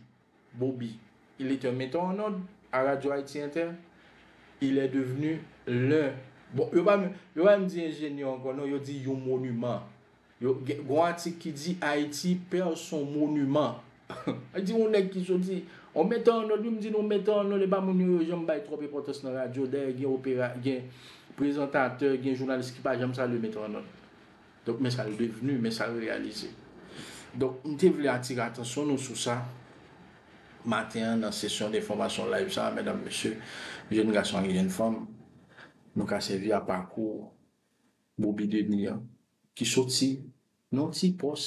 Bobi, il est un metteur en ordre à Radio Haïti Inter, il est devenu l'un, bon yo pa menm, yo pa menm di enjenyè ankò non, yo di yon monuman. Yo, gen yon atik ki di Haïti perd son monument. Sa vle di yon nèg ki soti, yon metteur en ordre, yo menm di yon metteur en ordre, e pa moun yo yo janm bay twòp enpòtans nan radyo, dayè gen opera, gen prezantatè, gen jounalis ki pa janm salye metteur en ordre. Donk men sa yo devni, men sa yo reyalize. Donk m te vle atire atansyon nou sou sa maten an nan sesyon denfòmasyon live sa a medam mesye, jenn gason ak jenn fanm. Nou ka sèvi a pakou Boby Denis an ki soti nan yon ti pòs.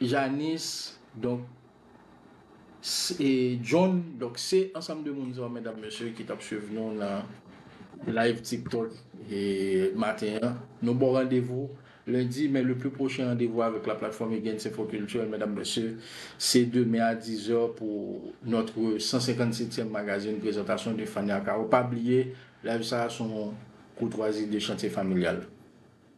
Janis, donk, s, e John, donk, se ansanm de moun sa yo medam mesye ki tap swiv nou nan live tiktok e maten an. Nou baw randevou lendi men le pli pwochen randevou avèk la platfòm Egen's Info Culturel medam mesye se demen a 10 zè pou notre 157 tièm magazin prezantasyon de Fania Caro. Pa bliye live sa a son koutwazi de Chantye Familyal.